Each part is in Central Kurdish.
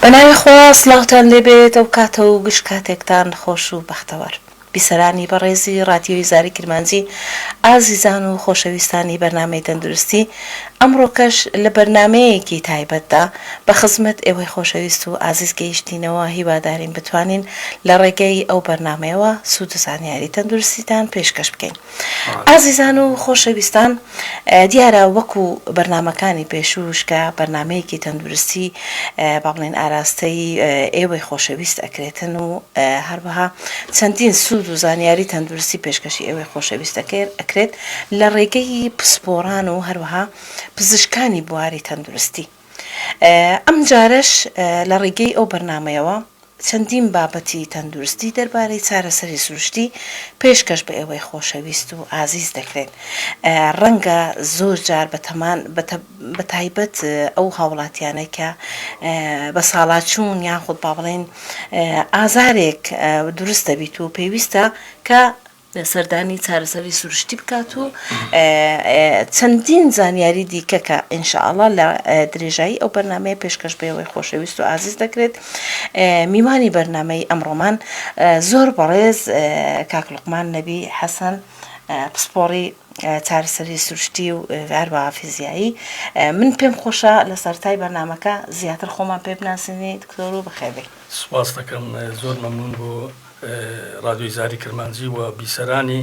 بەناوی خوا سڵاوتان لێبێت ئەوکاتەو گشت کاتێکتان خۆش و بەختەوەر. بیسەرانی بەڕێزی ڕادیۆی زاری کرمانجی ئازیزان و خۆشەویستانی بەرنامەی تەندروستی، ئەمڕۆکەش لە بەرنامەیەکی تایبەتدا بە خزمەت ئێوەی خۆشەویست و ئازیز گەیشتینەوە هیوادارین بتوانین لە ڕێگەی ئەو بەرنامەیەوە سوود و زانیاری تەندروستیتان پێشکەش بکەین. ئازیزان و خۆشەویستان دیارە وەکو بەرنامەکانی پێشووش کە بەرنامەیەکی تەندورستی با بڵێن ئاراستەی ئێوەی خۆشەویست ئەکرێتن و هەروەها چەندین سوود و زانیاری تەندورستی پێشکەشی ئێوەی خۆشەویست ئەکرێت لە ڕێگەی پسپۆڕان و هەروەها پزیشکانی بواری تەندورستی. ئەم جارەش لە ڕیگەی ئەو بەرنامەیەوە چەندین بابەتی تەندورستی دەربارەی چارەسەری سروشتی پێشکەش بە ئێوەی خۆشەویست و ئازیز دەکرێن ڕەنگە زۆر جار بەتەمان بە تایبەت ئەو هاوڵاتیانەی کە بە ساڵاچوون یاخود با بڵێین ئازارێک دورست دەبیت و پێویستە کە سەردانی چارەسەری سروشتی بکات و چەندین زانیاری دیکە کە ان شاء اللە لە درێژایی ئەو بەرنامەیە پێشکەش بە ئێوەی خۆشەویست و ئازیز دەکرێت میوانی بەرنامەی ئەمڕۆمان زۆر بەڕێز کاک لوقمان نەبی حەسەن پسپۆڕی چارەسەری سروشتی و هەروەها فیزیایی من پێم خۆشە لە سەرتای بەرنمەکە زیاتر خۆمان پێ بناسینی دکتۆر و بەخێبێ سپاس دەکەم زۆر مەمنون بۆ ڕادیۆی زاری کرمانجی و بیسەرانی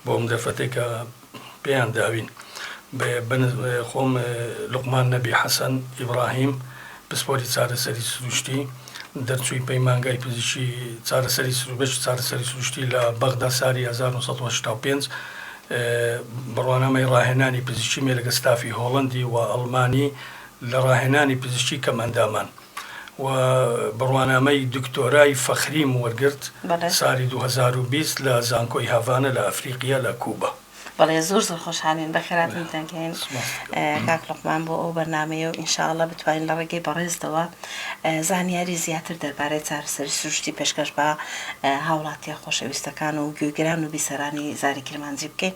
بۆ ئەم دەرفەتەی کە پێیان داوین خۆم لوقمان نەبی حەسەن ئیبراهیم پسپۆری چارەسەری سروشتی دەرچووی پەیمانگای پزیشی چارەسەری سروبەشی چارەسەری سروشتی لە بەغدا ساری 1965 بڕوانامەی ڕاهێنانی پزیشکی مێ لەگە ستافی هۆڵەندی و ئەڵمانی لە ڕاهێنانی پزیشکی کەم ئەندامان و بڕوانامەی دکتۆرای فەخریم وەرگرت سالی دوو هەزار و بیست لە زانکۆی هاڤانا لە ئەفریقیا لە کوبا. بەڵێ زۆر زۆر خۆشحاڵین بەخێراتن دەگەین کاک لوقمان بۆ ئەو بەرنامەیە و ئینشاڵڵە بتوانین لە ڕێگەی بەڕێزتەوە زانیاری زیاتر دەربارەی چارەسەری سروشتی پێشکەش بە هاوڵاتیە خۆشەویستەکان و گوێگران و بیسەرانی زاری کرمانجی بکەین.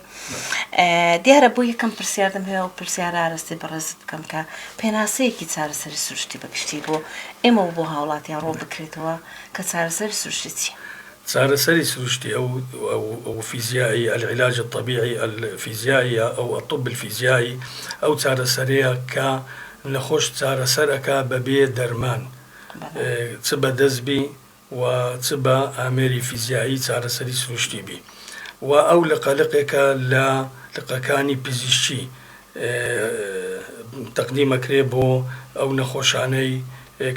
دیارە بۆ یەکەم پرسیار دەمهەوێ ئەو پرسیارە ئارەستەی بەڕێزت بکەم کە پێناسەیەکی چارەسەری سروشتی بە گشتی بۆ ئێمە و بۆ هاوڵاتیان ڕوون بکرێتەوە کە چارەسەری سروشتی چیە؟ چارەسەری سروشتی ئەو ئەو فیزیایی، العلاج الطبیعی، الفیزیاییە، ئەو الطب الفیزیایی، ئەو چارەسەرەیە کە نەخۆش چارەسەر ئەکا بەبێ دەرمان چ بەدەست بی، و چ بە ئامێری فیزیایی چارەسەری سروشتی بی و ئەو لقە لقێکە لە لقەکانی پزیشکی تەقدیم ئەکرێ بۆ ئەو نەخۆشانەی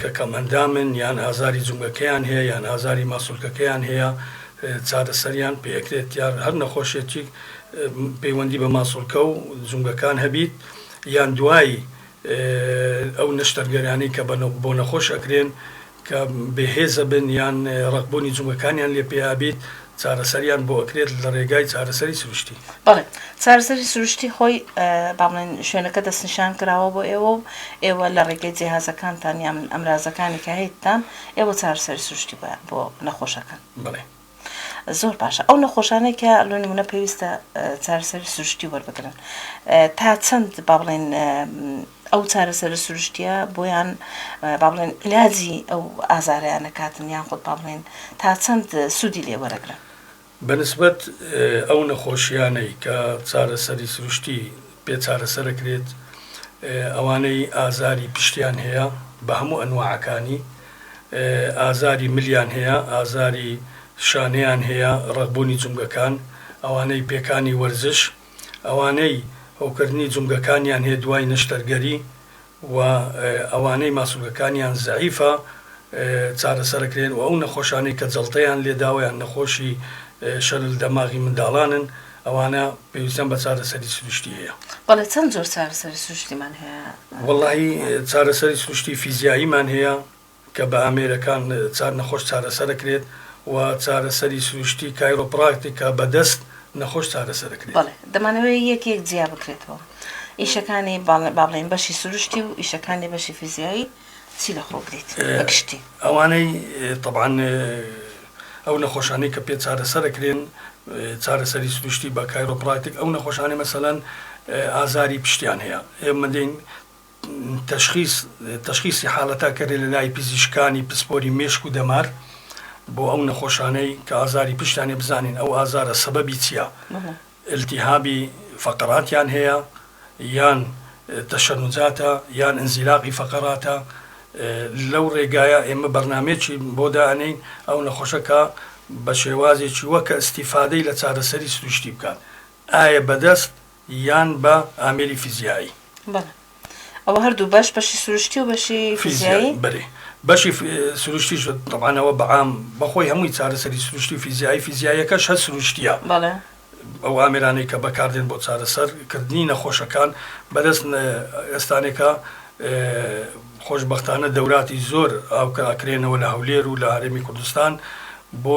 کە کەمئەندامن یان ئازاری جومگەکەیان هەیە یان ئازاری ماسولکەکەیان هەیە چارەسەریان پێ ئەکرێت یان هەر نەخۆشێتیک پەیوەندی بە ماسولکە و جومگەکان هەبیت یان دوای ئەو نەشتەرگەرانی کە بۆ نەخۆش ئەکرێن کە بێ هێزە بن یان ڕەقبوونی جومگەکانیان لێ پێیا بیت چارەسەریان بۆ ئەکرێت لە ڕێگای چارەسەری سروشتی؟ بەڵێ چارەسەری سروشتی خۆی با بڵێن شوێنەکە دەستنیشان کراوە بۆ ئێوە و ئێوە لە ڕێگەی جێهازەکانتان یان ئەمرازەکانی کە هەیتتان ئێوە چارەسەری سروشتی بۆ نەخۆشەکان بڵێ. زۆر باشە ئەو نەخۆشانەی کە لۆ نمونە پێویستە چارەسەری سروشتی وەربگرن تا چەند با بڵێن ئەو چارەسەر سروشتیە بۆیان با بڵێن علاجی ئەو ئازاریان نکاتن یان خۆت با بڵێن تا چەند سوودی لێ وەرەگرن بەنسبەت ئەو نەخۆشیانەی کە چارەسەری سروشتی پێ چارەسەرەکرێت ئەوانەی ئازاری پشتیان هەیە بە هەموو ئەنوعەکانی ئازاری ملیان هەیە، ئازاری شانەیان هەیە، ڕەقبوونی جومگەکان، ئەوانەی پێکانی وەرزش، ئەوانەی هەوکردنی جومگەکانیان هەیە دوای نەشتەرگەری و ئەوانەی ماسولکەکانیان زەعیفە چارەسەرەکرێن و ئەو نەخۆشانەی کە جەڵتەیان لێداوە یان نەخۆشی شەلل دەماغی منداڵانن، ئەوانە پێویستیان بە چارەسەری سروشتی هەیە؟ بەڵێ چەند جۆر چارەسەری سروشتیمان هەیە؟ وەڵاهی چارەسەری سروشتی فیزیاییمان هەیە کە بە ئامێرەکان چار نەخۆش چارەسەر ئەکرێت و چارەسەری سروشتی کایرۆپڕاکتیک کە بە دەست نەخۆش چارەسەر ئەکرێت. بەڵێ دەمانەوێ یەک یەک جیا بکرێتەوە ئیشەکانی با بڵێین بەشی سروشتی و ئیشەکانی بەشی فیزیایی چی لە خۆگریت بە گشتی؟ ئەوانەی تەبعەن ئەو نەخۆشانەی کە پێ چارەسەر ئەکرێن چارەسەری سروشتی بە کایرۆپڕاکتیک ئەو نەخۆشانەی مەسەلەن ئازاری پشتیان هەیە ئێمە دێین تشخیص تشخیصی حالەتا کەرێ لە لای پزیشکانی پسپۆری مێشک و دەمار بۆ ئەو نەخۆشانەی کە ئازاری پشتانێ بزانین ئەو ئازارە سەبەبی چییە بەڵێ ئیلتیهابی فەقەراتیان هەیە یان تەشەنوجاتە یان ئینزیلاقی فەقەراتە لەو ڕێگایە ئێمە بەرنامەیەکی بۆ دائەنێین ئەو نەخۆشە کە بە شێوازێکی وە کە ئیستیفادەی لە چارەسەری سروشتی بکات ئایا بە دەست یان بە ئامێری فیزیایی. بەڵێ. ئەوە هەردوو بەش بەشی سروشتی و بەشی فیزیایی بەێ بەشی سروشتی شد تەوانەوە بەعام بەخۆی هەمووی چارەسەری سروشتی فیزیایی فیزیایەکەش هە سروشتیە بەڵێ ئەو ئامرانەی کە بەکاردێن بۆ چارەسەرکردنی نەخۆشەکان بەدەست ئێستانێکە خۆشببختانە دەوراتی زۆر ئاوکەکرێنەوە لە هەولێر و لە هەرێمی کوردستان بۆ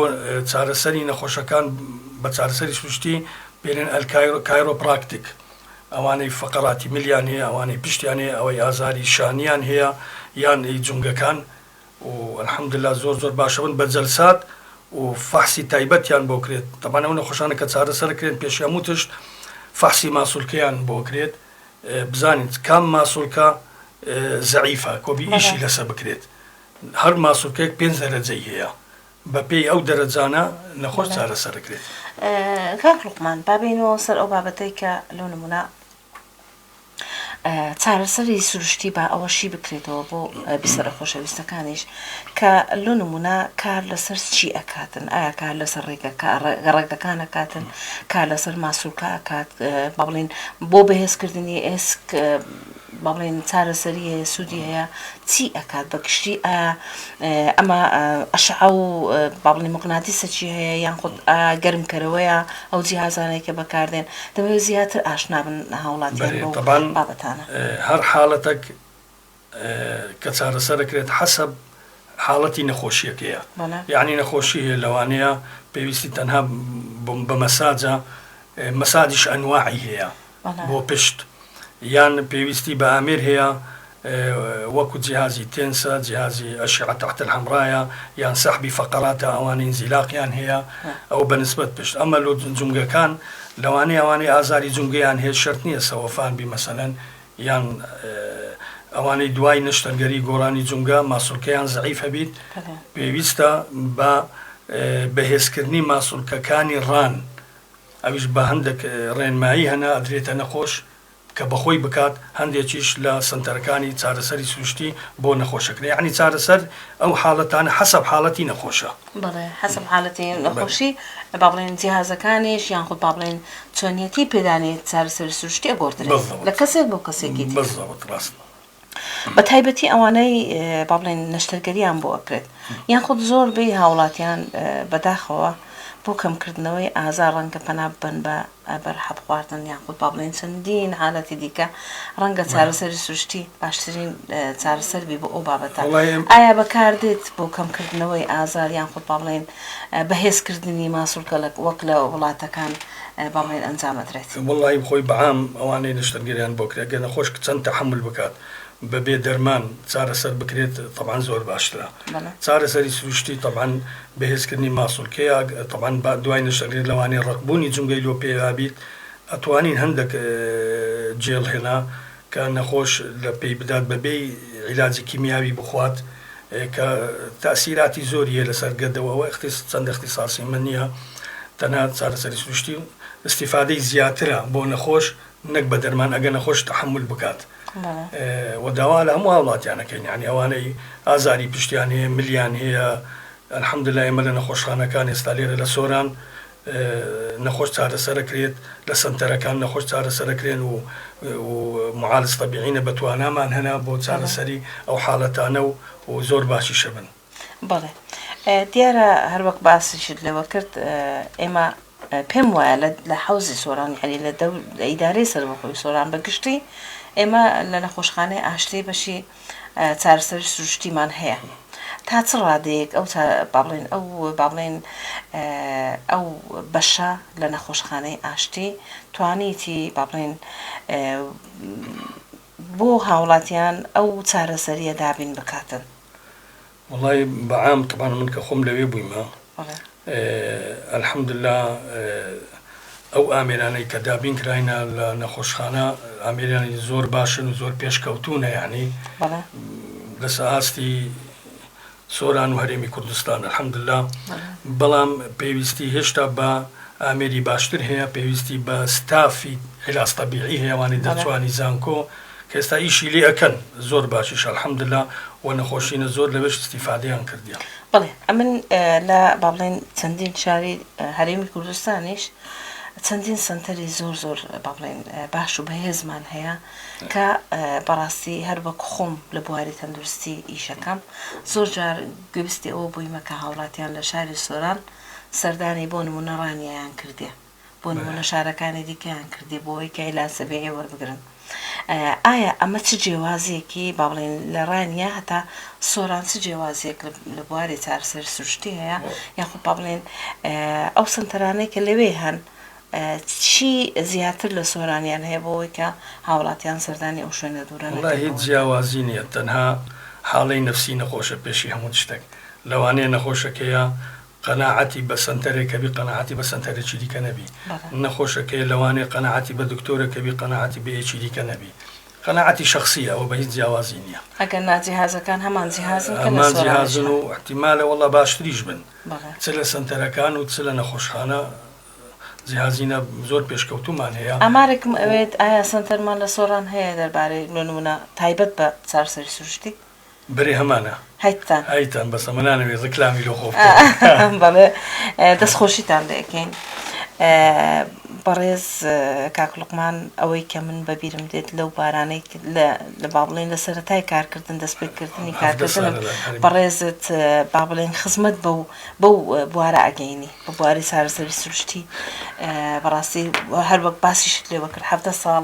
چارەسەری نەخۆشەکان بە چارەسەری سروشتی پێێن ئەلکایرۆ کایرۆ پراکتیک ئەوانەی فەقەراتی ملیان هەیە ئەوانەی پشتیان هەیە ئەوەی ئازاری شانیان هەیە یان ی جومگەکان و الحمدللە زۆر زۆر باشەبن بە جەلسات و فەحسی تایبەتیان بۆ کرێت تەبعەن ئەو نەخۆشانە کە چارە سەر کرێن پێش هەموو تشت فەحسی ماسولکەیان بۆ کرێت بزانین کام ماسولکە زەعیفە کۆبی ئیشی لەسە بکرێت هەر ماسولکەیەک پێنج دەرەجەی هەیە بە پێی ئەو دەرەجانە نەخۆش چارەسەر ئەکرێت. کاک لوقمان با بێینەوە سەر ئەو بابەتەی کە لۆ نموونە چارەسەری سروشتی با ئەوەشی بکرێتەوە بۆ بیسەرە خۆشەویستەکانیش کە لۆ نموونە کار لەسەر چی ئەکاتن ئایا کار لەسەر ڕێگەکە ڕێگەکان ئەکاتن کار لەسەر ماسولکە ئەکات با بڵێن بۆ بەهێزکردنی ئێسک بەڵێن چارەسەری هەیە سودی هەیە چی ئەکات بە گشتی ئایا ئەمە ئەشعە و با بڵێین مقناتیسە چی هەیە یان خود گەرم کەرەوەیە ئەو جیهازانەی کە بەکاردێن دەمەوێت زیاتر ئاشنا بن هاوڵاتیان بەو بابەتانە. بەێ طەبعەن هەر حالەتەک کە چارەسەر ئەکرێت حەسەب حالەتی نەخۆشیەکەیە یانی نەخۆشی هەیە لەوانەیە پێویستی تەنها بە مەساجە مەساجیش ئەنواعی هەیە بۆ پشت یان پێویستی بە ئامێر هەیە وەکو جیهازی تێنسە جیهازی ئەشعە تحت الحمرایە یان سەحبی فەقەراتە ئەوانەی ئینزیلاقیان هەیە ئەو بەنسبەت پشت ئەمە لۆ جومگەکان لەوانەیە ئەوانەی ئازاری جومگەیان هەیە شەرت نییە سەوەفان بی مەسەلەن یان ئەوانەی دوای نەشتەرگەری گۆڕانی جومگە ماسولکەیان زەعیف هەبیت پێویستە بە بەهێزکردنی ماسولکەکانی ڕان ئەویش بە هەندێک ڕێنمایی هەنە ئەدرێتە نەخۆش کە بەخۆی بکات، هەندێکیش لە سەنتەرەکانی چارەسەری سروشتی بۆ نەخۆشەکرێ، یەعنی چارەسەر ئەو حالەتانە حەسەب حالەتی نەخۆشە. بەڵێ حەسەب حالەتی نەخۆشی با بڵێن جیهازەکانیش یان خود با بڵێن چۆنیەتی پێدانی چارەسەری سروشتی ئەگۆڕدرێ لە کەسێک بۆ کەسێکی دیکە. بەڵزەبت ڕاستە. بە تایبەتی ئەوانەی با بڵێن نەشتەرگەریان بۆ ئەکرێت یان خود زۆر بێ هاوڵاتیان بەداخەوە بۆ کەمکردنەوەی ئازا ڕەنگە پەنا ببەن بە بەر حەب خواردن یان خود با بڵێن چەندین حالەتی دیکە ڕەنگە چارەسەری سروشتی باشترین چارەسەر بی بۆ ئەو بابەتە ئایا بەکاردێت بۆ کەمکردنەوەی ئازار یان خود با بڵێن بەهێزکردنی ماسولکەلک وەک لە وڵاتەکان. بەم هۆێن ئەنجام ئەدرێت. وەڵاهی خۆی بەعام ئەوانەی نەشتەرگەریان بۆ کرێ گەر نەخۆش چەند تەحەمول بکات بەبێ دەرمان چارەسەر بکرێت تەبعەن زۆر باشترە چارەسەری سروشتی تەبعەن بەهێزکردنی ماسول کەیە تەبعەن دوای نەشتەرگەری لەوانەیە ڕەقبوونی جومگەی لۆ پێیابیت ئەتوانین هەندەک جێڵ هێنا کە نەخۆش لە پێی بدات بە بێی عیلاجی کیمیاوی بخوات کە تاسیراتی زۆری هەیە لەسەر گەدە و ئەوە ئیختیس چەندە ئیختیساسی من نیە تەنها چارەسەری سروشتی و ئیستیفادەی زیاترە بۆ نەخۆش نەک بە دەرمان ئەگە نەخۆش تەحەمول بکات و داوا لە هەموو هاوڵاتیان ئەکەین یانی ئەوانەی ئازاری پشتیان هەیە ملیان هەیە الحمدللە ئێمە لە نەخۆشخانەکان ئێستا لێرە لە سۆران نەخۆش چارەسەرەکرێت لە سەنتەرەکان نەخۆش چارەسەرەکرێن و و معالج طبیعینە بە توانامان هەنا بۆ چارەسەری ئەو حالەتانە و و زۆر باشیشە بن. بەڵێ دیارە هەروەک باسیشت لەوە کرد ئێمە پێم وایە لە لە حەوزی سۆران یعنی لە دەو لە ئیدارەی سەربەخۆی سۆران بە گشتی ئێمە لە نەخۆشخانەی ئاشتی بەشی چارەسەری سروشتیمان هەیە تا چ ڕادەیەک ئەو با بڵێن ئەو با بڵێن ئەو بەشە لە نەخۆشخانەی ئاشتی توانیتی با بڵێن بۆ هاوڵاتیان ئەو چارەسەریە دابین بکاتن وەڵای بە عام تەبعەن من کە خۆم لەوێ بوویمە الحمدللە ئەو ئامێرانەی کە دابین کراینە لە نەخۆشخانە ئامێرانی زۆر باشن و زۆر پێشکەوتوونە یعنی لەسە ئاستی سۆران و هەرێمی کوردستان الحمدللە بەڵام پێویستی هێشتا بە ئامێری باشتر هەیە پێویستی بە ستافی علاج طبیعی هەیەوانی دەرچوانی زانکۆ کەئێستا ئیشی لێ ئەکەن زۆر باشیش الحمداللە وە نەخۆشینە زۆر لەوێش ئیستیفادەیان کردیە. بەڵێ ئەمن لە بابڵێن چەندین شاری هەرێمی کوردستانیش چەندین سەنتەری زۆر زۆر بابڵێن باش و بەهێزمان هەیە کە بەڕاستی هەر وەک خۆم لە بواری تەندروستی ئیشەکەم زۆر جار گوێبستی ئەوە بوویمە کە هاوڵاتیان لە شاری سۆران سەردانی بۆ نمونە ڕانیەیان کردیە بۆ نموونە شارەکانی دیکەیان کردی بۆ ئەوەی کە عیلاج تەبیعی وەربگرن. ئایا ئەمە چ جێوازییەکی با بڵێین لە ڕانیە هەتا سۆران چ جێوازییەک لە بواری چارەسەری سروشتی هەیە یاخود با بڵێین ئەو سەنتەرانەی کە لەوێ هەن چی زیاتر لە سۆرانیان هەیە بۆ ئەوەی کە هاوڵاتیان سەردانی ئەو شوێنە دوورە نەکەن؟ وەڵا هیچ جیاوازی نییە تەنها حاڵەی نەفسی نەخۆشە پێشی هەموو شتێک. لەوانەیە نەخۆشەکەیە قەناعەتی بە سەنتەرێکەبی قەناعەتی بە سەنتەرێکی دیکە نەبی نەخۆشەکەی لەوانەیە قەناعەتی بە دکتۆرەکەبی قەناعەتی بە یەکی دیکە نەبی قەناعەتی شخصیە ئەوە بە هیچ جیاوازی نییە ئەگەر ناجیهازەکان هەمان جیهازن هەمان جیهازن و احتیمالە وەڵا باشتریش بن چ لە سەنتەرەکان و چ لە نەخۆشخانە جیهازینە زۆر پێشکەوتومان هەیە ئامارێکم ئەوێت ئایا سەنتەرمان لە سۆران هەیە دەربارەی بۆ نمونە تایبەت بە چارەسەری سروشتی؟ برێ هەمانە هەیتان هەیتان بەس ئەمە نانەوێت ڕکلامی لۆ خۆ بەڵێ دەستخۆشیتان لەکەین بەڕێز کاکلقمان ئەوەی کە من بەبیرم دێت لەو بارانەی لە با بڵێن لە سەتای کارکردن دەست پێکردنی کارکردن بەڕێزت با بڵێن خزمەت بە و بەو بوارە ئەگەینی بە بواری سارەسەری سروشتی بەڕاستی هەروەک باسیشت لێ بکرد هەفتە ساڵ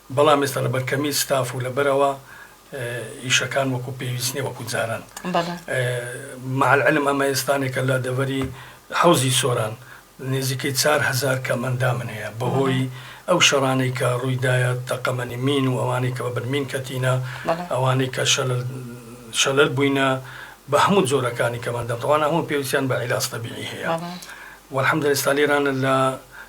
بەڵام ئێستا لەبەر کەمی ستاف و لەبەرئەوە ئیشەکان وەکو پێویست نیە وەکو جاران مع العلم ئەمە ئێستانێکە لە دەڤەری حەوزی سۆران نێزیکەی چار هەزار کەم ئەندامن هەیە بەهۆی ئەو شەڕانەی کە ڕوویدایە تەقەمەنی مین و ئەوانەی کە بەبن مین کەتینە ئەوانەی کە شەلل شەلل بووینە بە هەموو جۆرەکانی کەمەندەم تەوانە هەموو پێویستیان بە عیلاج تەبیعی هەیە وەلحمدللە ئێستا لێرانە لە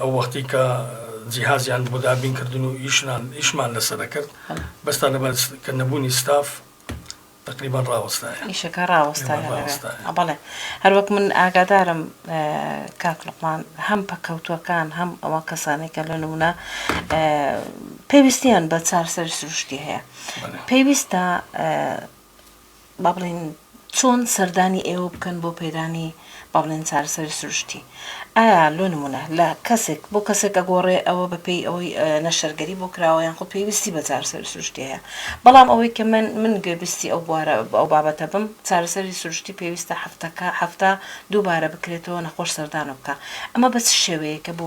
ئەو وەختی کە جیهازیان بۆ دابین کردن و ئیشنان ئیشمان لەسەر دەکرد بەس تا لەبەر کە نەبوونی ستاف تقریبان ڕاوەستایە ئیشەکە ڕاوەستایە بەڵێ هەروەک من ئاگادارم کاک لقمان هەم پەکەوتوەکان هەم ئەوە کەسانێکە لە نمونە پێویستیان بە چارسەر سروشتی هەیە پێویستە با بڵێین چۆن سەردانی ئێوە بکەن بۆ پەیدانی با بڵێین چارەسەری سروشتی ئایا لۆ نمونە لە کەسێک بۆ کەسێک ئەگۆڕێ ئەوە بە پێی ئەوەی نەشتەرگەری بۆ کراوە یان خۆ پێویستی بە چارەسەری سروشتی هەیە بەڵام ئەوەی کە من من گوێبیستی ئەو بوارە ئەو بابەتە بم چارەسەری سروشتی پێویستە هەفتەکە هەفتە دووبارە بکرێتەوە نەخۆش سەردانە بکا ئەمە بە چ شێوەیەکە بۆ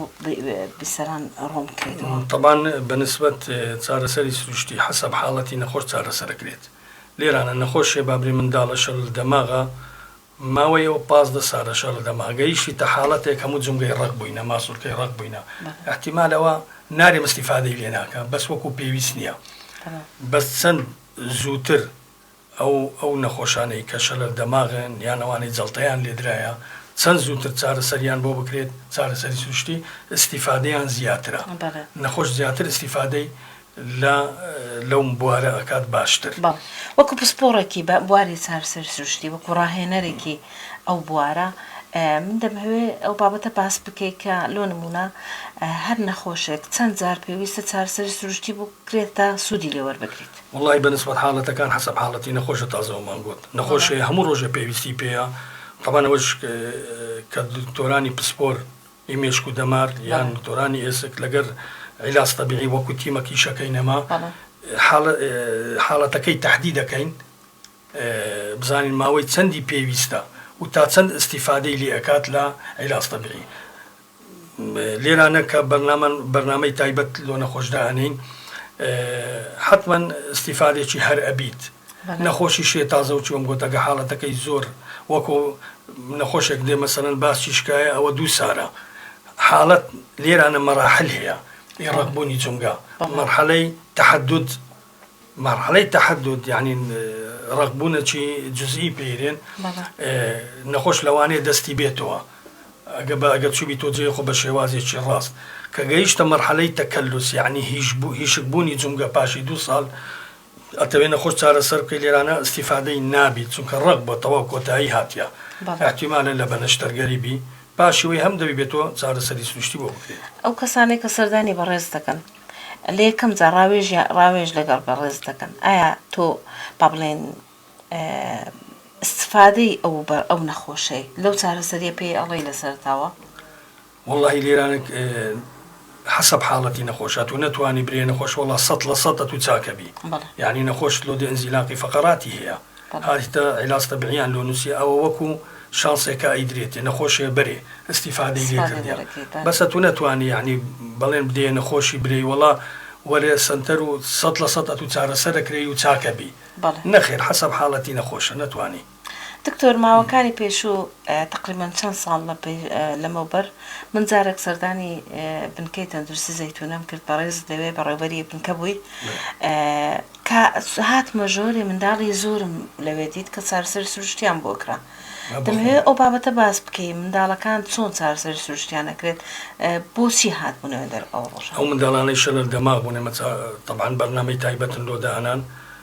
بیسەران ڕوون بکرێتەوە تەبان بە نسبەت چارەسەری سروشتی حەسەب حاڵەتی نەخۆش چارەسەر دەکرێت لێرانە نەخۆشیە بابری منداڵە شەلل دەماغە ماوەیە و پازدە سالە شەلل دەماغ گەیشیتە حالەتێک هەموو جومگەی ڕەق بوینە ماسولکەی ڕەق بوینە احتیمال ئەوە نارێم استیفادەی لێ ناکە بەس وەکو پێویست نیە بەس چەند زوتر ئەو ئەو نەخۆشانەی کە شەلل دەماغن یان ئەوانەی جەڵتەیان لێدرایە چەند زوتر چارەسەریان بۆ بکرێت چارەسەری سروشتی استیفادەیان زیاترە نەخۆش زیاتر استیفادەی لە لەوم بوارە ئەکات باشتر. بەڵێ وەکو پسپۆڕێکی بە بواری چارەسەری سروشتی وەکو ڕاهێنەرێکی ئەو بوارە من دەمهەوێ ئەو بابەتە باس بکەی کە لۆ نمونە هەر نەخۆشێک چەند جار پێویستە چارەسەری سروشتی بکرێت تا سوودی لێ وەربگریت؟ وەڵای بە نسبەت حاڵەتەکان حەسەب حاڵەتی نەخۆشە تازەوەمان گۆت نەخۆش هەیە هەموو ڕۆژێ پێویستی پێیە تەبەن ئەوەش کە دکتۆرانی پسپۆر ی مێشک و دەمار یان دۆرانی ئێسک لەگەر عیلاج تەبیعی وەکو تیمە کیشەکەی نەما حاڵەتەکەی تەحدی دەکەین بزانین ماوەی چەندی پێویستە و تا چەند ئستیفادەی لێ ئەکات لە عیلاج تەبیعی لێرانە کە بەرنامە بەرنامەی تایبەت لۆ نەخۆشدا ئەنین حتمما ئستیفادێکی هەر ئەبیت نەخۆشی شێ تازەو چووم گۆتەکە حاڵەتەکەی زۆر وەکۆ نەخۆشێک دێ مەسەلەن باسی شکایە ئەوە دوو سارە حاڵەت لێرانە مەراحل هەیە ی ڕەق بوونی جومگە مەرحەلەی تەحەدود مەرحەلەی تەحەدود یعنی ڕەق بوونە چی جزئی پێیرێن نەخۆش لەوانەیە دەستی بێتەوە ئەگە بە ئەگەر چوبی تۆ جێ خۆ بە شێوازێکی ڕاست کە گەیشتە مەرحەلەی تەکەلوس یعنی هیش بوو هیشک بوونی جومگە پاشی دوو ساڵ ئەتەوێ نەخۆش چارەسەر بکەی لێرانە ئیستیفادەی نابی چونکە ڕق بۆ تەواو کۆتایی هاتیە ئەحتیمالە لە بەنەشتەرگەری بی باشی وەی هەم دەبی بێ تۆ چارەسەری سروشتی بۆ بکرێ. ئەو کەسانەی کە سەردانی بەڕێزت دەکەن لە یەکەم جار ڕاوێژیان ڕاوێژ لەگەڵ بەڕێزت دەکەن ئایا تۆ با بڵێین ئیستفادەی ئەو بە ئەو نەخۆشەی لەو چارەسەریە پێی ئەڵێی لە سەرەتاوە؟ وەڵاهی لێرانە حەسەب حاڵەتی نەخۆش ئەتوو نەتوانی برێ نەخۆش وەڵا سەد لە سەد ئەتوو چاکەبی یعنی نەخۆش لۆ دێ ئەنزیلاقی فەقەراتی هەیە هاتە عیلاستە بریان لۆ نووسی ئەوە وەکو شانسێکە ئەیدرێتێ نەخۆشێ بەرێ ئیسیفادەی لێ کردیان بەس ئەتوو نەتوانی یعنی بەڵێن بدێ نەخۆشی برێی وەڵا وەرێ سەنتەر و سەد لە سەد ئەتوو چارەسەرەکرێی و چاکەبی نەخێر حەسەب حاڵەتی نەخۆشە نەتوانی دکتۆر ماوەکانی پێشوو تەقریبەن چەند ساڵ لەمەوبەر من جارێک سەردانی بنکەی تەندروستی زەیتونەم کرد بەڕێزت لەوێ بەڕێوبەری بنکە بووی کە هاتمە ژۆرێ منداڵی زۆرم لەوێ دیت کە چارسەری سروشتیان بۆ کرا دەمەوێت ئەو بابەتە باس بکەی منداڵەکان چۆن چارسەری سروشتیان نەکرێت بۆچی هات بوونەوە دەر ئەو ڕۆژ ئەو منداڵانەی شەلەر دەماغ بوون ئێمە تەبان بەرنامەی تایبەتن لۆ دانان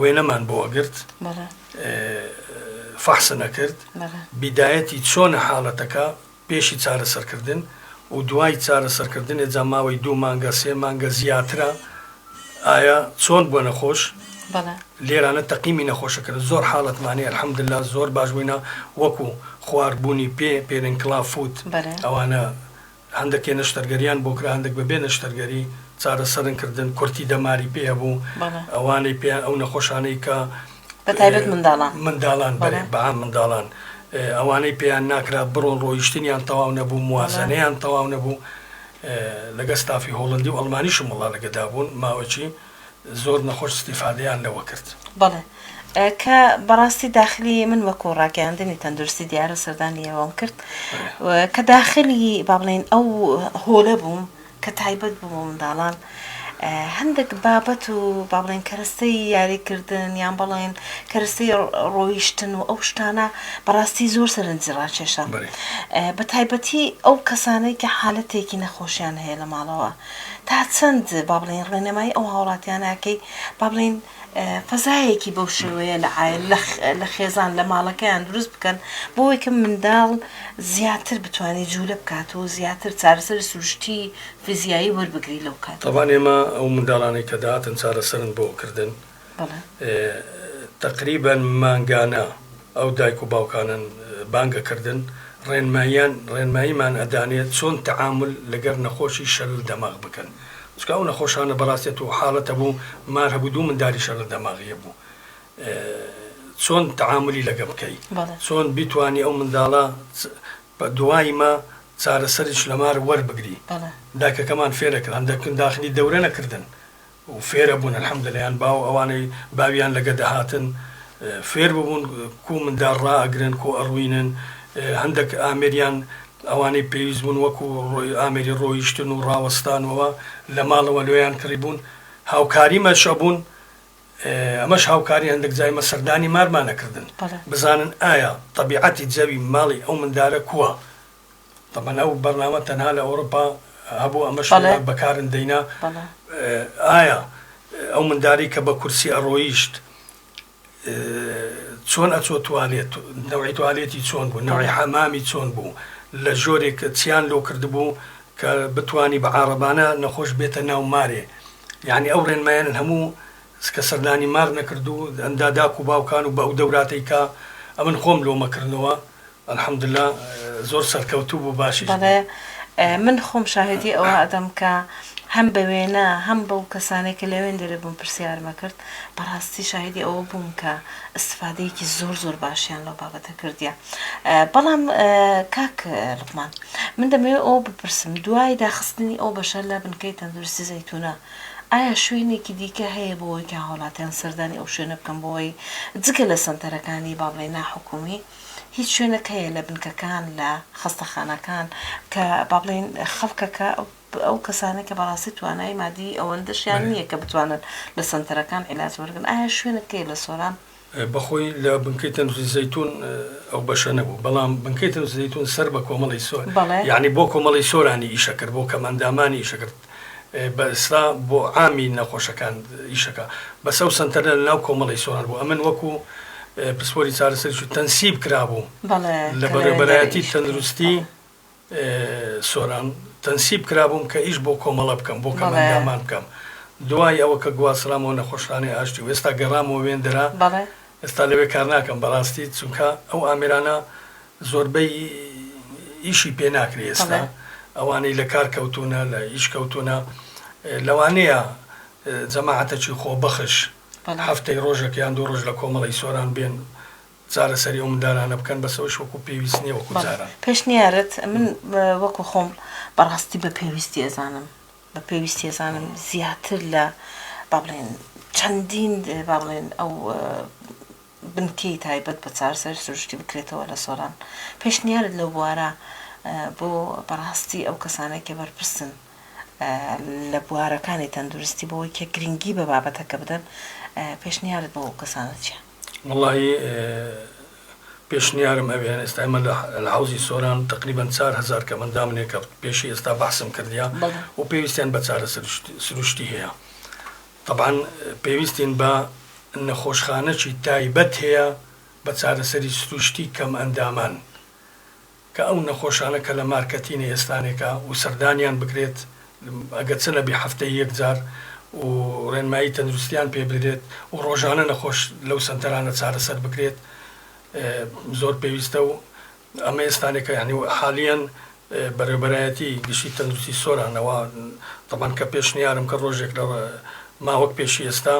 وێنەمان بۆ ئەگرت فەحسن ئەکرد بیدایەتی چۆنە حاڵەتەکە پێشی چارەسەرکردن و دوای چارەسەرکردنێ جا ماوەی دوو مانگە سێ مانگە زیاترە ئایا چۆن بووە نەخۆش لێرانە تەقیمی نەخۆشەکرد زۆر حاڵەتمانێ الحەمدللا زۆر باش بووینە وەکو خواربوونی پێ پێرنکلا فوت ئەوانە هەندەکێ نەشتەرگەریان بۆ کرا هەندەک بەبێ نەشتەرگەری چارەسەرن کردن کورتی دەماری پێ هەبوو بەڵێ. ئەوانەی پێیان ئەو نەخۆشانەی کە بە تایبەت منداڵان. منداڵان بەڵێ بەڵێ. بە عام منداڵان ئێ ئەوانەی پێیان ناکرا بڕۆن ڕۆیشتنیان تەواو نەبوو موازەنەیان تەواو نەبوو ئێ لەگە ستافی هۆڵندی و ئەڵمانیشم وەڵا لەگەدا بوون ماوەکی زۆر نەخۆش ستیفادەیان لەوە کرد. بەڵێ کە بەڕاستی داخلی من وەکو ڕاگەیاندنی تەندروستی دیارە سەردانی ئێوەم کرد کە داخلی با بڵێن ئەو هۆلە بووم کە تایبەت بوو بۆ منداڵان هەندێک بابەت و با بڵێن کەرەستەی یاریکردن یان بڵێن کەرەستەی ڕۆیشتن و ئەو شتانە بەڕاستی زۆر سەرنجی ڕاکێشە بە تایبەتی ئەو کەسانەی کە حالەتێکی نەخۆشیان هەیە لە ماڵەوە تا چەند با بڵێین ڕێنمایی ئەو هاوڵاتیانە ئەکەی با بڵێین فەزایەکی بەو شێوەیە لە عایل لە خێزان لە ماڵەکەیان دروست بکەن بۆی کە منداڵ زیاتر بتوانێت جوولە بکات و زیاتر چارەسەر سروشتی فیزیایی وەربگری لەو کات. تابان ئێمە ئەو منداڵانەی کە دەهاتن چارەسەرن بۆ کردن تەقریبەن مانگانە ئەو دایک و باوکانەن بانگەکردن ڕێنماییان ڕێنماییمان ئەدانێت چۆن تەعامول لەگەر نەخۆشی شەلل دەماغ بکەن چونکە ئەو نەخۆشانە بەڕاستێ توو حاڵەت هەبوو مار هەبوو دوو منداری شەلل دەماغی هەبوو چۆن تەعامولی لەگە بکەی چۆن بیتوانی ئەو منداڵە بە دوایمە چارەسەریش لەمار وەربگری دایکەکەمان فێرەکران دەکن داخلی دەورە نەکردن و فێرە بوون الحمدە لەیان باو ئەوانەی باویان لەگە دەهاتن فێر ببوون کوو مندار ڕا ئەگرن کوو ئەڕوینن هەندەک ئامێریان ئەوانەی پێویست بوون وەکو ئامێری ڕۆیشتن و ڕاوەستانەوە لە ماڵەوە لۆیان کڕی بوون هاوکاری مەش ئەبوون ئەمەش هاوکاری هەندەک جای مە سەردانی مارمان ئەکردن بزانن ئایا تەبیعەتی جەوی ماڵی ئەو مندارە کووە تەبەن ئەو بەرنامە تەنها لە ئەوروپا هەبوو ئەمەش بە کارن دەینا ئایا ئەو منداری کە بە کورسی ئەڕۆیشت چۆن ئەچۆ توالێت نەوەی توالێتی چۆن بوو نەوەی حەمامی چۆن بوو لە ژۆرێک چیان لۆ کردبوو کە بتانی بە عربانە نەخۆش بێتە ناو مارێ یعنی ئەو ڕێنمایان هەموو کە سەردانی مار نەکردو ئەندا داکو باوکان و بە ئەو دەوراتەیکە ئەمن خۆم لۆمەکردنەوە الحمدللە زۆر سەرکەوتوو بوو باشیش بوو. بەڵێ من خۆم شاهیدی ئەوە ئەدەم کە هەم بە وێنە هەم بەو کەسانەی کە لە وێندەرێ بوون پرسیارم ئەکرد بەڕاستی شاهیدی ئەوە بووم کە ئیستفادەیەکی زۆر زۆر باشیان لەو بابەتە کردیە بەڵام کاک لوقمان من دەمەوێت ئەوە بپرسم دوای داخستنی ئەو بەشە لە بنکەی تەندروستی زەیتونە ئایا شوێنێکی دیکە هەیە بۆ ئەوەی کە هاوڵاتیان سەردانی ئەو شوێنە بکەن بۆ ئەوەی جگە لە سەنتەرەکانی با بڵێین ناحکومی هیچ شوێنەک هەیە لە بنکەکان لە خەستەخانەکان کە با بڵێین خەڵکەکە ئەو کەسانە کە بەڕاستی توانای مادی ئەوەندەشیان نییە کە بتوانن لە سنتەرەکان علاج وەرگن ئایا شوێنەکەی لە سۆران بەخۆی لە بنکەی تەندروستی زەیتون ئەو بەشە نەبوو بەڵام بنکەی تەندروستی زەیتون سەر بە کۆمەڵی سۆر یعنی بۆ کۆمەڵی سۆرانی ئیشەکرد بۆ کەمەندامانی ئیشەکرد بەسرا بۆ عامی نەخۆشەکان ئیشەکا بەس ئەو سەنتەرە لە ناو کۆمەڵی سۆران بوو ئەمن وەکو پسپۆری چارەسەریش و تەنسیب کرابوو لە بەڕێوەبەرایەتی تەندروستی سۆران تەنسیب کرابووم کە ئیش بۆ کۆمەڵە بکەم بۆ کەمئەندامان بکەم دوای ئەوە کە گواسترامەوە نەخۆشخانەی ئاشتی و ئێستا گەڕامەوە وێندەرە ئێستا لەوێ کار ناکەم بەڕاستی چونکە ئەو ئامێرانە زۆربەی ئیشی پێ ناکرێ ئێستا ئەوانەی لە کار کەوتوونە لە ئیش کەوتوونە لەوانەیە جەماعەتەکی خۆبەخش هەفتەی ڕۆژێک یان دوو ڕۆژ لە کۆمەڵەی سۆران بێن چارەسەری ئەو مندالانە بکەن بەس ئەوش وەکو پێویست نییە وەکو جاران. پێشنیارت من وەکو خۆم بەڕاستی بە پێویستی ئەزانم بە پێویستی ئەزانم زیاتر لە با بڵێن چەندین با بڵێن ئەو بنکەی تایبەت بە چارەسەری سروشتی بکرێتەوە لە سۆران پێشنیارت لەو بوارە بۆ بەڕاستی ئەو کەسانێک کە بەرپرسن لە بوارەکانی تەندروستی بەوەی کە گرنگی بە بابەتەکە بدەن پێشنیارت بۆ ئەو کەسانە چیە؟ وڵی پێشنیارم ئەوێ ئێستا ئێمە لە لە حەوزی سۆران تەقریبەن چار هەزار کەم ئەندامنێ کە پێشی ئێستا بەحسم کردیا بەڵێ و پێویستیان بە چارە سروشت سروشتی هەیە تەبعەن پێویستین بە نەخۆشخانەکی تایبەت هەیە بە چارەسەری سروشتی کەم ئەندامان کە ئەو نەخۆشانە کە لە مارکەتینە ئێستانێکە و سەردانیان بکرێت ئەگەرچە لە بێ هەفتەی یەک جار و ڕێنمایی تەندروستیان پێ بدرێت و ڕۆژانە نەخۆش لەو سەنتەرانە چارەسەر بکرێت زۆر پێویستە و ئەمە ئێستانێکە یانی و حالیەن بەرێوەبەرایەتی گشتی تەندروستی سۆرانەوە تەبان کە پێشنیارم کە ڕۆژێک لە ما وەک پێشی ئێستا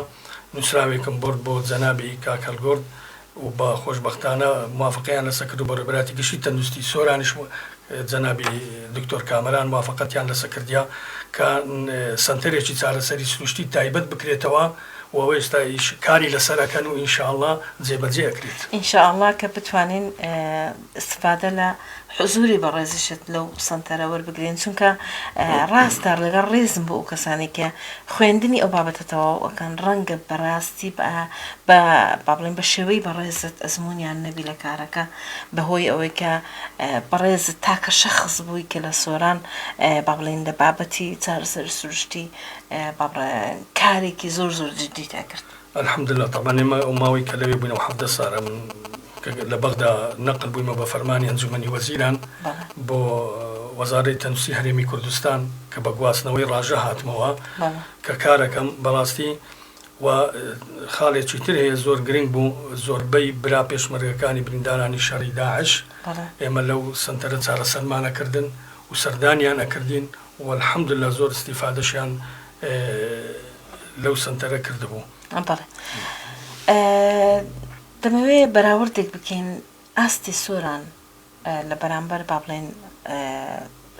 نوسراوێکم بۆرد بۆ جەنابی کاک هەلگورد و بە خۆشبەختانە موافقەیان لەسەر کرد و بە ڕێبەرایەتی گشتی تەندوستی سۆرانیش و جەنابی دکتۆر کامەران موافقەتیان لەسە کردیە کە سەنتەرێکی چارەسەری سروشتی تایبەت بکرێتەوە و ئەوە ئێستا ئیش کاری لەسەر ئەکەن و ان شاءاللە جێبەجێ ئەکرێت. ان شاءاللە کە بتوانین استفادە لە حزوری بەڕێزیشت لەو سەنتەرە وەربگرین چونکە ڕاستە ڵەگەڵ ڕێزم بۆ ئەوکەسانەی کە خوێندنی ئەو بابەتە تەواو ئەکەن ڕەنگە بەڕاستی بە بە بابڵێم بە شێوەی بەڕێزت ئەزمونیان نەبی لە کارەکە بەهۆی ئەوەی کە بەڕێزت تاکە شەخس بوی کە لە سۆران بابڵێین لە بابەتی چارەسەری سروشتی بابڕێ کارێکی زۆر زۆر جدیت ئەکرد الحمدللە تەبعەن ئێمە ئەو ماوەی کە لەوێ بووینەوە حەڤدە سارە من کە لە بەغدا نەقل بوویمە بە فەرمانی ئەنجومەنی وەزیران بۆ وەزارەی تەندوستی هەرێمی کوردستان کە بە گواستنەوەی ڕاژە هاتمەوە کە کارەکەم بەڕاستی و خاڵێکی تر هەیە زۆر گرنگ بوو زۆربەی برا پێشمەرگەکانی بریندارانی شەڕی داعش ئێمە لەو سەنتەرە چارەسەرمان ئەکردن و سەردانیان ئەکردین و الحمدللە زۆر ئیستیفادەشیان لەو سنتەرە کردبوو دەمەوێ بەراوردێک بکەین ئاستی سۆران لە بەرامبەر با بڵێن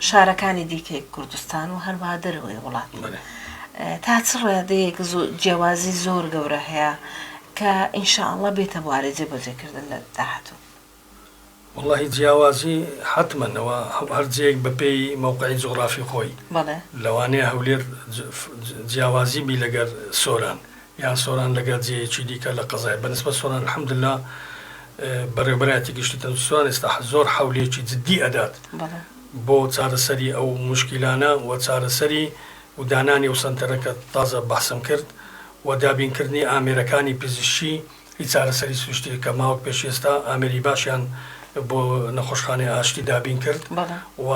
شارەکانی دیکەی کوردستان و هەروە دەرەوەی وڵات تا چ ڕادەیەک جیاوازی زۆر گەورە هەیە کە ئینشاءله بێتە بوارە جێبەجێکردن لە داهاتوو وەڵاهی جیاوازی حەتمەن ئەوە هەر جێیەک بەپێی مەوقعی جوغرافی خۆی بەڵێ لەوانەیە هەولێر جیاوازی بی لەگەر سۆران یان سۆران لەگەر جێیەکی دیکە لە قەزای بەنسبەت سۆران الحمدللە بەڕێوبەرایەتی گشتی تەندروستی سۆران ئێستا زۆر حەولێکی جدی ئەدات بەڵێ بۆ چارەسەری ئەو موشکیلانە و چارەسەری و دانانی ئەو سەنتەرە کە تازە بەحسم کرد و دابینکردنی ئامێرەکانی پزیشکی هیچ چارەسەری سروشتییەک کە ماوەک پێش ئێستا ئامێری باشیان بۆ نەخۆشخانەی ئاشتی دابین کرد و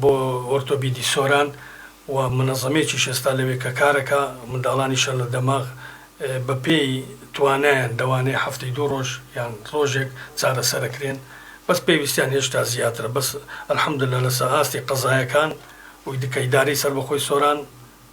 بۆ ئۆرتۆبیدی سۆران و منەزەمێکیش ئێستا لەوێ کە کارەکا منداڵانی شەل لە دەماغ بە پێی توانایان دەوانێ هەفتەی دوو ڕۆژ یان ڕۆژێک چارەسەرەکرێن بەس پێویستیان هێشتا زیاترە بەس الحمدللە لەسە ئاستی قەزایەکان و دکە ئیدارەی سەربەخۆی سۆران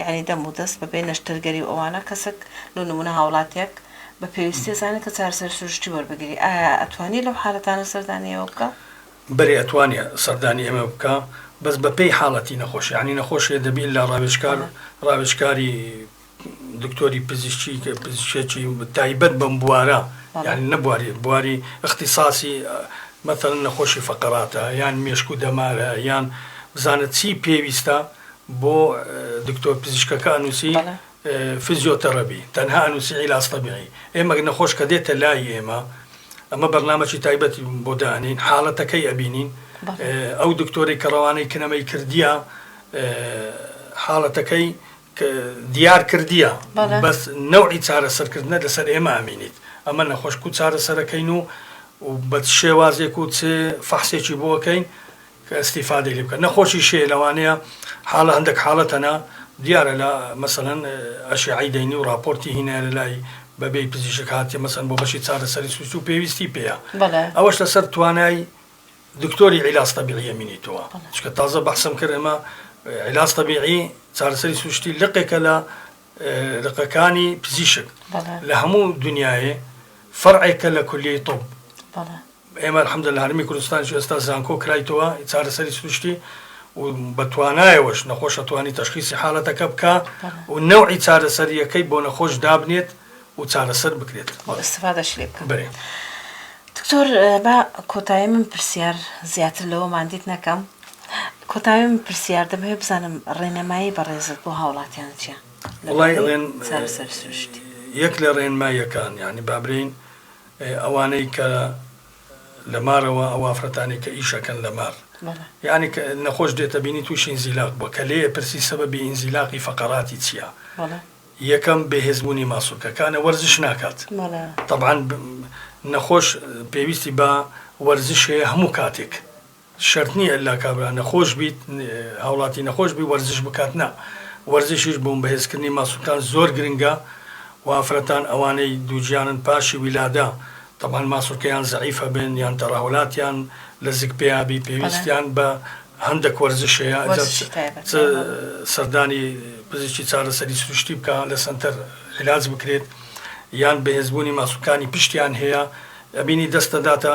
یانی دەم و دەست بە بێ نەشتەرگەری و ئەوانە کەسەک لۆ نمونە هاوڵاتیەک بە پێویستی ئەزانێت کە چارەسەری سروشتی وەربگری ئایا ئەتوانیە لەو حالەتانە سەردانی ئێوە بکا؟ بەلی ئەتوانیە سەردانی ئێمە بکا بەس بە پێی حالەتی نەخۆش یانی نەخۆشێ دەبی لە ڕاوێژکار ڕاوێژکاری دکتۆری پزیشکی کە پزیشکی تایبەت بەم بوارە یانی نەبواری بواری اختصاصی مەتەن نەخۆشی فقراتە یان مێشک و دەمارە یان بزانە چی پێویستە بۆ دکتۆر پزیشکەکە ئەنوسی بەڵێ. فزیۆ تەڕەبی تەنها ئەنوسی عیلاج طبیعی ئێمەک نەخۆش کە دێتە لای ئێمە ئەمە بەرنامەکی تایبەتی بۆ دانین حاڵەتەکەی ئەبینین بەڵێ. ئەو دکتۆرەی کە ڕەوانەی کنەمەی کردیە حاڵەتەکەی ک دیار کردیە بەڵێ. بەس نەوعی چارەسەر کردنە لەسەر ئێمە ئەمینیت ئەمە نەخۆش کو چارەسەرەکەین و و بە چ شێوازێک و چ فەحسێکی بۆ ئەکەین کە ئیستیفادەی لێ بکەن نەخۆشی شێ لەوانەیە حاڵە هەندەک حاڵە تەنە دیارە لە مەسەلەن ئەشێعەی دەینی و ڕاپۆرتی هینایە لە لای بەبێی پزیشک هاتیە مەسەن بۆ بەشی چارەسەری سوچ و پێویستی پێیە بەڵێ ئەوەش لەسەر توانای دکتۆری عیلاج تەبیعیە مینیتەوە بەڵێ. چکە تازە بەحسم کرد ئەمە اه، عیلاج تەبیعی چارەسەری سروشتی لقێکە لە اه، لقەکانی پزیشک بەڵێ لە هەموو دنیاێ فەرعێکە لە کولیەی طب بەڵێ ئێمە الحمداللە هەرێمی کوردستانیش ئێستا زانکۆ کرایتەوە چارەسەری سروشتی و بە توانایەوەش نەخۆشە توانی تەشخیسی حالەتەکە بکا و نەوعی چارەسەرییەکەی بۆ نەخۆش دابنێت و چارەسەر بکرێت و ئیستفادەش لێ بکا. بەێ. دکتۆر با کۆتایی من پرسیار زیاتر لەوە ماندیت نەکەم کۆتایی من پرسیار دەمەوێت بزانم ڕێنەمایی بەڕێزت بۆ هاوڵاتیان چیە؟ وڵی ڕێن چارەسەری سروشتی. یەک لە ڕێنماییەکان یعنی بابرێین ئێ ئەوانەی کە لە مارەوە ئەو ئافرەتانەی کە ئیش ئەکەن لە مار بەڵێ یانی کە نەخۆش دێتە بینی تووشی ئینزیلاق بووە کە لێ ئەپرسی سەبەبی ئینزیلاقی فەقەراتی چییە بەڵێ یەکەم بێهێزبوونی ماسولکەکانە وەرزش ناکات بەڵێ تەبعەن ب- نەخۆش پێویستی بە وەرزش هەیە هەموو کاتێک شەرت نیە ئیلا کابرا نەخۆش بیت هاوڵاتی نەخۆش بی وەرزش بکات نا وەرزشیش بۆم بەهێزکردنی ماسولکان زۆر گرنگە و ئافرەتان ئەوانەی دووگیانن پاشی ویلادە تەبعەن ماسولکەیان زەعیف هەبێن یان تەڕەهۆلاتیان لە زگ پیا بی پێویستیان بە هەندەک وەرزش هەیە ئەجا چ سەردانی پزیشکی چارەسەری سروشتی بکا لە سەنتەر عیلاج بکرێت یان بەهێزبوونی ماسولکانی پشتیان هەیە ئەبینی دەست دەداتە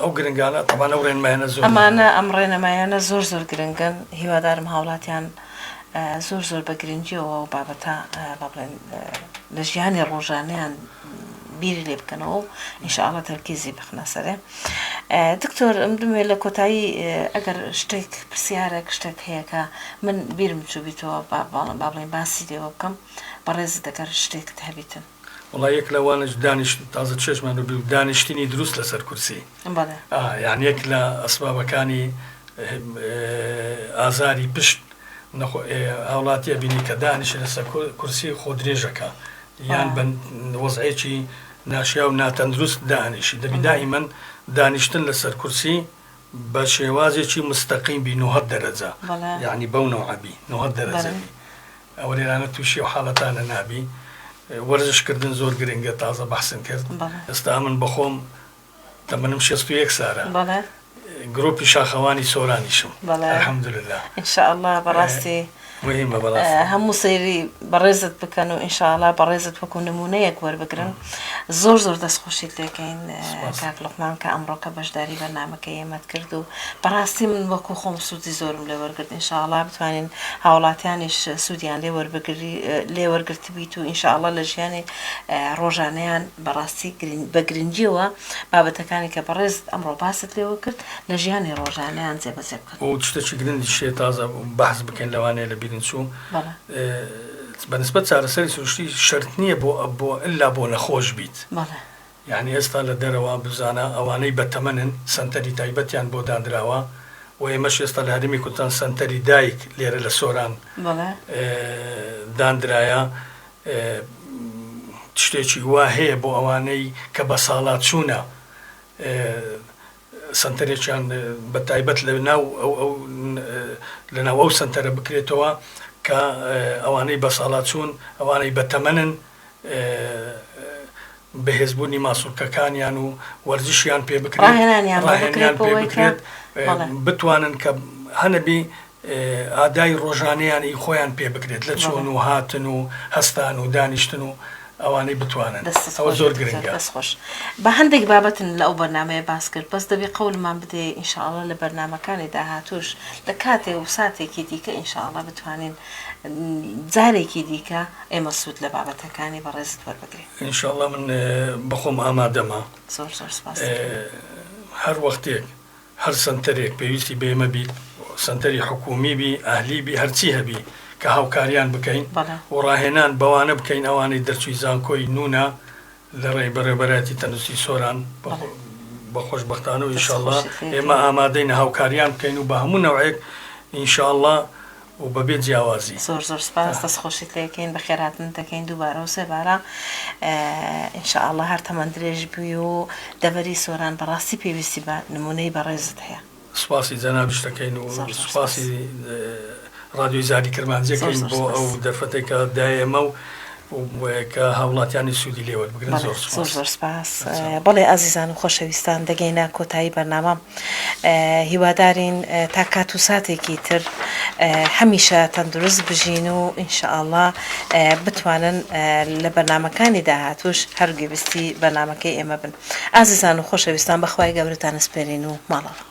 ئەو گرنگانە تەبان ئەو ڕێنمایانە زۆر ئەمانە ئەم ڕێنەمایانە زۆر زۆر گرنگن هیوادارم هاوڵاتیان زۆر زۆر بە گرنگیەوە و بابەتە بابڵێن لە ژیانی ڕۆژانیان بیری لێ بکەنەوە و ئینشاءڵە تەرکیزی بخنە سەرێ دکتۆر ئەم دمێ لە کۆتایی ئەگەر شتێک پرسیارێک شتێک هەیەکە من بیرم چوبیتەوە بابڵێن باسی لێوە بکەم بەڕێز دەگەر شتێکت هەبیتن وەڵا یەک لە وانەش دانیشت تازە چێژمان بە بیو دانیشتنی دروست لەسەر کورسی بەڵێ ئا یان یەک لە ئەسبابەکانی ئازاری پشت نەخۆ هاوڵاتیە بینی کە دانیشت لەسە کورسی خۆ درێژەکە یان بە وەزعێکی ناشیا و ناتەندروست دانیشی دەبی دائیمەن دانیشتن لەسەر کورسی بە شێوازێکی مستەقیم بی نوهەد دەرەجە بەڵێ یعنی بەو نەوعە بی نوهەد دەرەجە بەڵێ. بی. ئەوە لێرانە توشی ئەو حالەتانە نابی وەرزش کردن زۆر گرنگە تازە بەحسن کرد ئێستا من بەخۆم تەمەنم شەست و یەک سارە گرۆپی شاخەوانی سۆرانیشم الحمدلله ان شاء الله بەڕاستی مهمە بەڕاستی هەموو سەیری بەڕێزت بکەن و ان شاء الله بەڕێزت وەکو نمونەیەک وەربگرن زۆر زۆر دەست خۆشیت لێکەین کاک لوقمان کە ئەمڕۆکە بەشداری بەرنمەکە ئێمەت کرد و بەڕاستی من وەکو خۆم سوودی زۆرم لێ وەرگرت انشاءله بتوانین هاوڵاتیانیش سوودیان لێ وەربگری لێ وەرگرت بیت و انشاءله لە ژیانی ڕۆژانیان بەڕاستی بە گرنگیەوە بابەتەکانی کە بەڕێز ئەمڕۆ باست لێوە کرد لە ژیانی ڕۆژانیان جێبەجێ بکەن شتەکی گرنگی شێ تازە بەحز بکەین لەوانەیە لە بیرین چوو بە نسبەت چارەسەری سروشتی شەرت نییە بۆ بۆ ئللا بۆ نەخۆش بیت. بەڵێ. یانی ئێستا لە دەرەوە بزانە ئەوانەی بە تەمەنن سەنتەری تایبەتیان بۆ دانراوە و ئێمەش ئێستا لە هەرێمی کوردستان سەنتەری دایک لێرە لە سۆران بەڵێ. داندرایە شتێکی وا هەیە بۆ ئەوانەی کە بەساڵاچوونە سەنتەرێکیان بە تایبەت لە ناو ئەو لە ناو ئەو سەنتەرە بکرێتەوە کە ئەوانەی بەساڵاچوون ئەوانەی بە تەمەنن بەهێز بوونی ماسولکەکانیان و وەرزشیان پێ بکرێت ڕاهێنانیان بۆ بکرێت بۆ ئەوەی کە بتوانن کە هەنەبی ئادای ڕۆژانەیان ی خۆیان پێ بکرێت لە چوون و هاتن و هەستان و دانیشتن و ئەوانەی بتوانن ئەوە زۆر گرنگە. دەست خۆش. بە هەندێک بابەتن لە ئەو بەرنامەیە باس کرد بەس دەبێ قەولمان بدەیە ان شاء اللە لە بەرنامەکانی داهاتووش لە کاتێ و ساتێکی دیکە ان شاء اللە بتوانین جارێکی دیکە ئێمە سوود لە بابەتەکانی بەڕێزت وەربگرین. ان شاء اللە من بە خۆم ئامادەمە. زۆر زۆر سپاس دەکەین. هەر وەختێک. هەر سەنتەرێک پێویستی بەیمە بیت سەنتەری حکومی بی ئەهلی بی هەرچی هەبی کە هاوکاریان بکەین بەڵێ. و ڕاهێنان بەوانە بکەین ئەوانەی دەرچوی زانکۆی نونا لە ڕێی بەڕێوبەرایەتی تەندوستی سۆران بە بەڵێ. بە خۆشبەختانە و دەست ئینشاللە خۆشی خێر ئێمە کەیە. ئامادەین هاوکاریان بکەین و بە هەموو نەوعێک ئینشاللە و بە بێ جیاوازی. زۆر زۆر سپاس دەست خۆشیت لێ کەین بەخێر هاتنت دەکەین دووبارە و سێبارە ان شاء اللە هەر تەمەن درێژ بی و دەڤەری سۆران بەڕاستی پێویستی بە نموونەی بەڕێزت هەیە. سپاسی جەنابیشت دەکەین و سپاسی ڕادیۆی زاری کرمانجی دەکەین بۆ ئەو دەرفەتەی کە دا ئێمە و کە هاوڵاتیانی سوودی لێ وەربگرن زۆر سپاس. زۆر زۆر سپاس بەڵێ ئازیزان و خۆشەویستان دەگەینە کۆتایی بەرنامە. هیوادارین تا کات و ساتێکی تر هەمیشە تەندروست بژین و ان شاء اللە بتوانن لە بەرنامەکانی داهاتووش هەر گوێبیستی بەرنامەکەی ئێمە بن ئازیزان و خۆشەویستان بە خوای گەورەتان ئەسپێرین و ماڵەوە